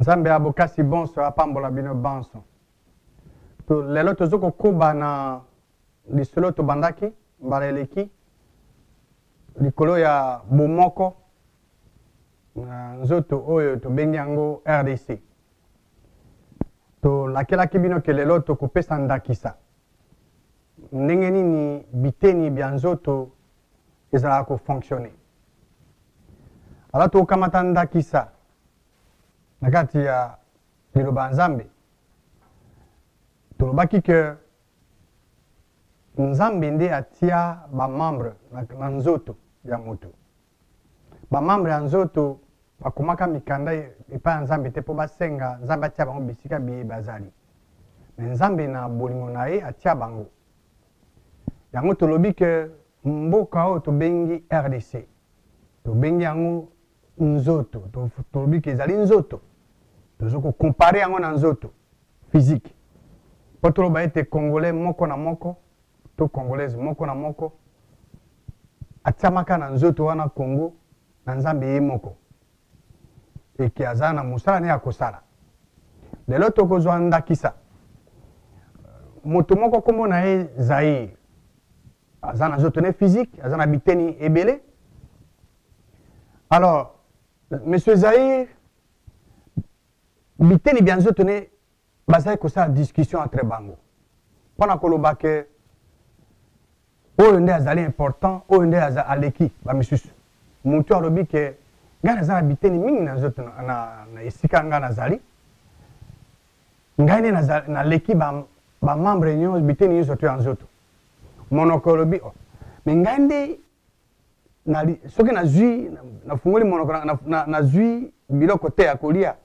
nzambe ya bokasi bonso apambola bino banso to, lelo toza kokoba na lisolo tobandaki mbala eleki likolo ya bomoko na nzoto oyo tobengi yango rdc tolakelaki bino ke lelo tokopesa ndakisa ndenge nini biteni bya nzoto ezalaka kofonctionne ala tokamata ndakisa na kati ya liloba ya nzambe tolobaki ke nzambe nde atia bamembre na, na nzoto ya moto bamambre ya nzoto bakomaka mikanda epai ya nzambe te mpo basenga nzambe atia bango bisika biye bazali me nzambe na bolingo na ye atia bango yango tolobi ke mboka oyo tobengi rdc tobengi yango nzoto tolobi ke ezali nzoto tozo kokompare yango na nzoto physique mpo toloba ete congolais moko na moko to congolaise moko na moko atiamaka na nzoto wana congo na nzambe ye moko eke aza na mosala naye akosala lelo tokozwa ndakisa moto moko nkombo na ye zaire aza na nzoto ne physique aza na biteni ebele alors monsieur zaire biteni bya nzoto ne bazali kosala discussion entre bango mpo na koloba ke oyo nde azali important oyo nde aleki bamisusu motu alobi ke ngai naza na biteni mingi na nzoto na, na, na esika ngai nazali ngai nde naleki bamembre ba nyonso biteni nyonso to ya nzoto monoko olobi oh. me ngai nde na, soki nazwi nafungoli na monoko nazwi na, na biloko te ya kolia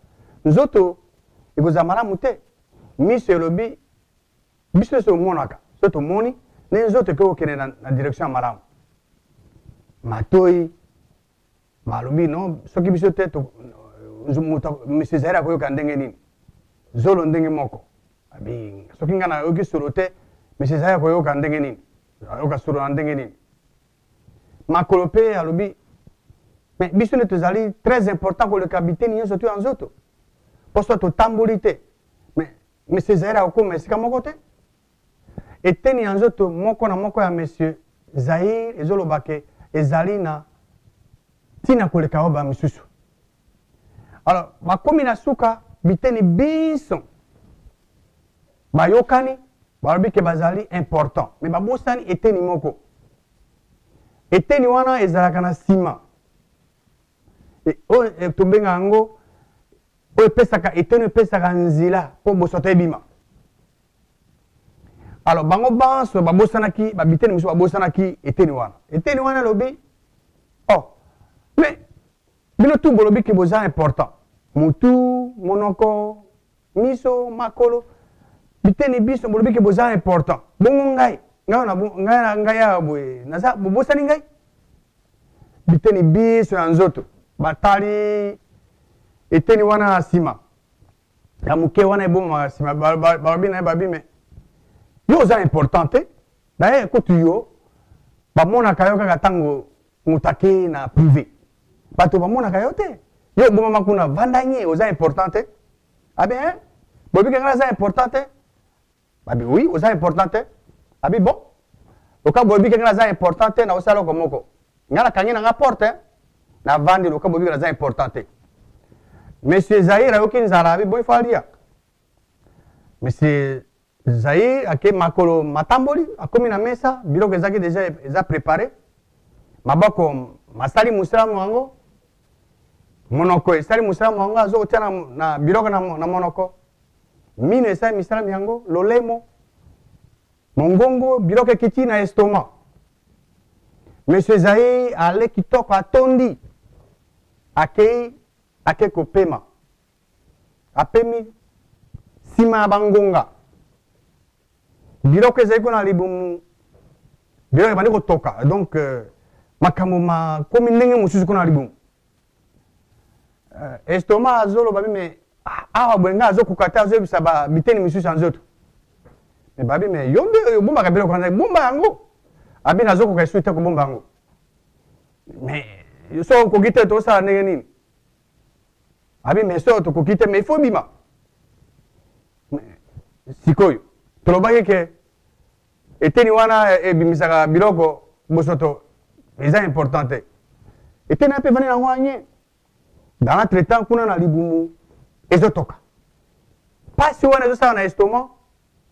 nzoto ekozala malamu te miso elobi biso nyonso omonaka so tomoni nde nzoto ekoki kokende na, na direction ya malamu matoi balobi no soki biso te monsieur zaire akoyoka ndenge nini zolo ndenge moko abi soki ngai nayoki solo te monsieur zaire akoyoka ndenge nini ayoka solo na ndenge nini makolo mpe alobi me biso nde tozali très important koleka biteni nyonso to ya nzoto mpo so totamboli te me monsieur zaire akokoma esika moko te eteni ya nzoto moko na moko ya monsieur zaire ezoloba ke ezali na ntina koleka oyo ba misusu alors bakomi na suka biteni binso bayokani balobi ke bazali important me babosani eteni moko eteni wana ezalaka na nsima e, oyo e, tobenga yango oyo epesaka eteni epesaka nzela mpo bosoto ebima alors bango banso babosanaki babiteni mosusu babosanaki eteni wana eteni wana elobi oh mais bino tu bolobi ke boza important mutu monoko miso makolo biteni biso bolobi ke boza important bongo ngai ngai ngai ya boye naza bobosani ngai biteni biso ya nzoto batali eteni wana na nsima ya moke wana ebomaka nsima balobi na ye babi me yo oza important te daye kutu yo bamonaka yo kaka ntango moto akei na privé bato bamonaka yo te yo obomama kuna vandanye oza important te abe ah eh? bobike ngai aza important te babi oui oza important te abi bon loka boyebi kenge naza important te naosala oko moko nga nakangi na nga porte navandi loka boyebi naza important te monsieur zaire ayoki nzala abi bon ifo alia monsieur zaire ake makolo matamboli akomi na mesa biloko ezaki deja eza prépare maboko masali mosala mwango monoko esali mosala mwango azokotia na, na biloko na, na monoko mino esali misala mya yango lolemo mongongo biloko ekiti na estoma monsieur ezai ale kitoko atondi akei ake kopema apemi nsima ya bangonga biloko ezali kuna na libumu biloko ebandi kotoka donc euh, makambo makomi ndenge mosusu kuna na libumu Uh, estoma azoloba bi me ah, awa boye ngai azokoka te azoyebisa biteni misusu ya nzoto me babi me yo nde obombaka biloko wana bomba yango abi nazokoka esu te kobomba yango me so okoki te tosala ndenge nini abi me so tokoki te me ifo bima sikoyo tolobaki ke eteni wana ebimisaka biloko bosoto eza important te eteni ape evandi nango anye dans notre temps kuna na libumu ezotoka mpasi wana ezosala na estomac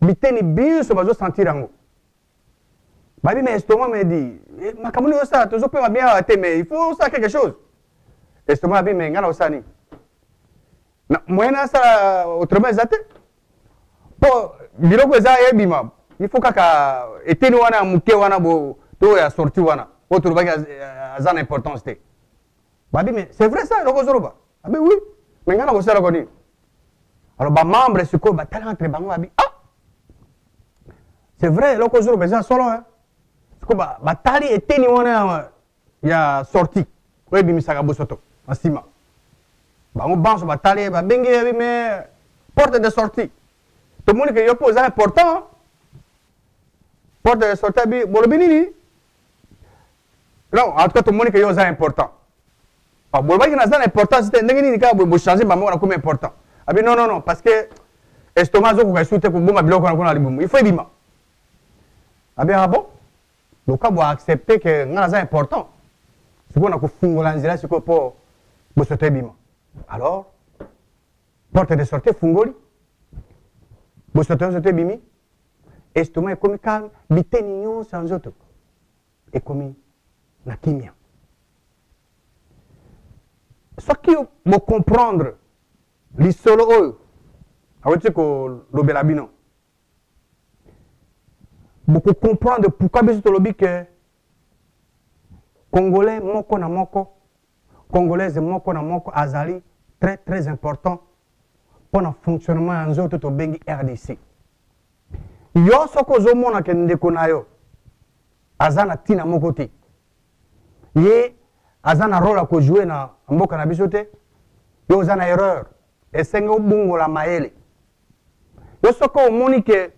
biteni binso bazosentir yango babi na estomac medi eh, makambo nini ozosala tozopema bien awa te mais il faut osala quelque chose estomac abi me ngai na osala nini na moyen asala autrement eza te mpo biloko eza ebima il faut kaka eteni wana ya moke wana bo to ya sorti wana oyo tolobaki aza na importance te babi mais c'est vrai ça eloko ozoloba abi oui mais ngai nakosalaka nini alors bamembre sikoyo batala entre bango babi ah c'est vrai eloko ozoloba eza solo sikoyo batali eteni wana ya sorti oyo ebimisaka bosoto na nsima bango banso batali ye babengi ye me porte de sortie tomoni ke yo mpo oza important porte de sortie abi bolobi nini non en tout cas tomoni ke yo oza important ah, bolobaki naza na importance te ndenge nini kaka bochange bamoko nakomi important abi non non non parce que estomac azokoka esu te kobomba biloko wana kuna na libumu il faut ebima abi ah bon Loka bo accepter que nga naza important. Sikoyo na kofungola nzela sikoyo po bosoto ebima. Alors porte de sortie efungoli. Bosoto nzoto ebimi. Estomac ekomi calme, biteni nyonso ya nzoto ekomi na kimia. Soki bo comprendre lisolo oyo aweti kolobela bino boko comprendre pourquoi biso tolobi que congolais moko na moko congolaise moko na moko azali très très important mpo na fonctionnement ya nzoto tobengi rdc yo soki ozomona ke ndeko na yo aza na ntina moko te ye aza na role ya kojoue na mboka na biso te yo oza na erreur esenge obongola mayele yo soki omoni ke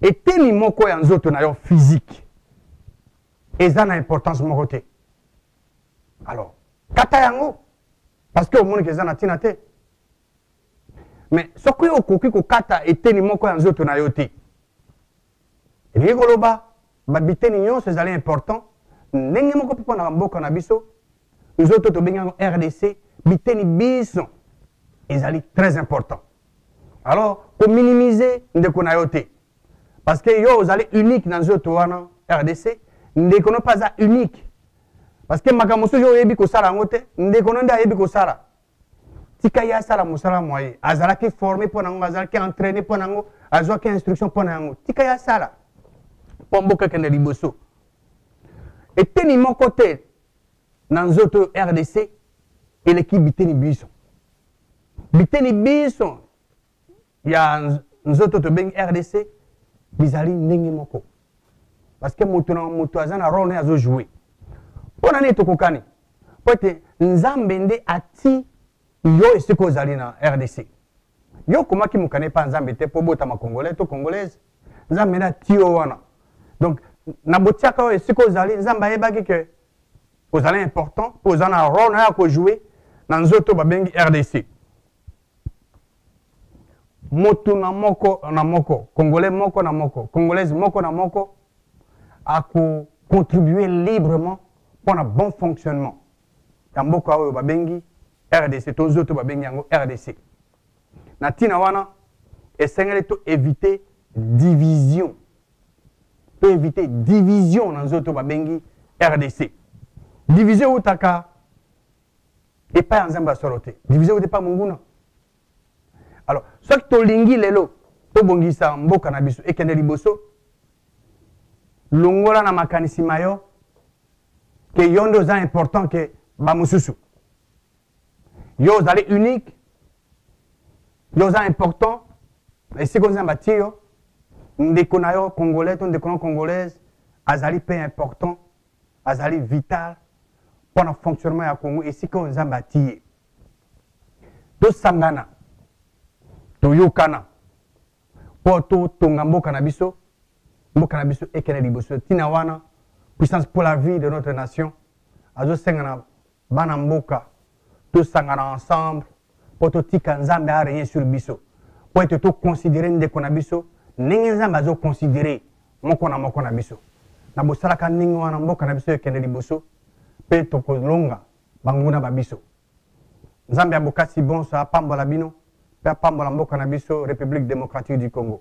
eteni moko ya nzoto na yo physique eza na importance moko te alors kata yango parce que omoni ke eza na ntina te mais soki okoki kokata eteni moko ya nzoto na yo te elingi koloba babiteni nyonso ezali important ndenge moko mpe mpo na bamboka na biso nzoto tobengi yango rdc biteni biso ezali très important alors kominimize ndeko na yo te parce que yo ozali unique na nzoto wana rdc ndeko no mpe aza unique parce que makambo mosusu yo oyebi kosala yango te ndeko no nde ayebi kosala tika ye asala mosala mwa ye azalaki forme mpo na yango azalaki entraîne mpo na yango azwaki instruction mpo na yango tika ye asala mpo mboka ekende liboso eteni moko te na nzoto oyo rdc eleki biteni biso biteni biso ya nzoto tobengi rdc bizali ndenge moko parce que moto na moto aza na role naye azojoue mpo na nini tokokani mpo ete nzambe nde ati yo esika ozali na rdc yo okomaki mokane mpa nzambe te mpo obotama congolais to congolaise nzambe nde ati yo wana donc na botiaka oyo esika ozali nzambe ayebaki ke ozali important mpo oza na role naye akojoue na nzoto babengi rdc motu na moko na moko congolais moko na moko congolaise moko na moko akocontribue librement mpo na bon fonctionnement ya mboka oyo babengi rdc to nzoto babengi yango rdc na ntina wana esengeli to éviter division to éviter division na nzoto babengi rdc division eutaka epai ya nzambe ya solo te division ewuti epai monguna alors soki tolingi lelo tobongisa mboka na biso ekende liboso longola na makanisi ma yo ke yo nde oza important ke bamosusu yo ozali unique yo oza important esika oza na bati yo ndeko na yo congolais to ndeko na yo congolaise azali mpe important azali vital mpo na fonctionnement ya congo esika oyo nzambe atii ye tosangana toyokana mpo totonga mboka na biso mboka na biso ekende liboso ntina wana puissance pour la vie de notre nation azosenga na Bana mboka, tosangana ensemble mpo totika Nzambe a régner sur biso. Mpo ete to considérer ndeko na biso ndenge Nzambe azo considérer moko na moko na biso. Na bosalaka ndenge wana mboka na biso ekende liboso mpe tokolonga banguna ba biso. Nzambe ya bokasi bonso apambola bino mpe apambola mboka na biso Republique democratique du Congo.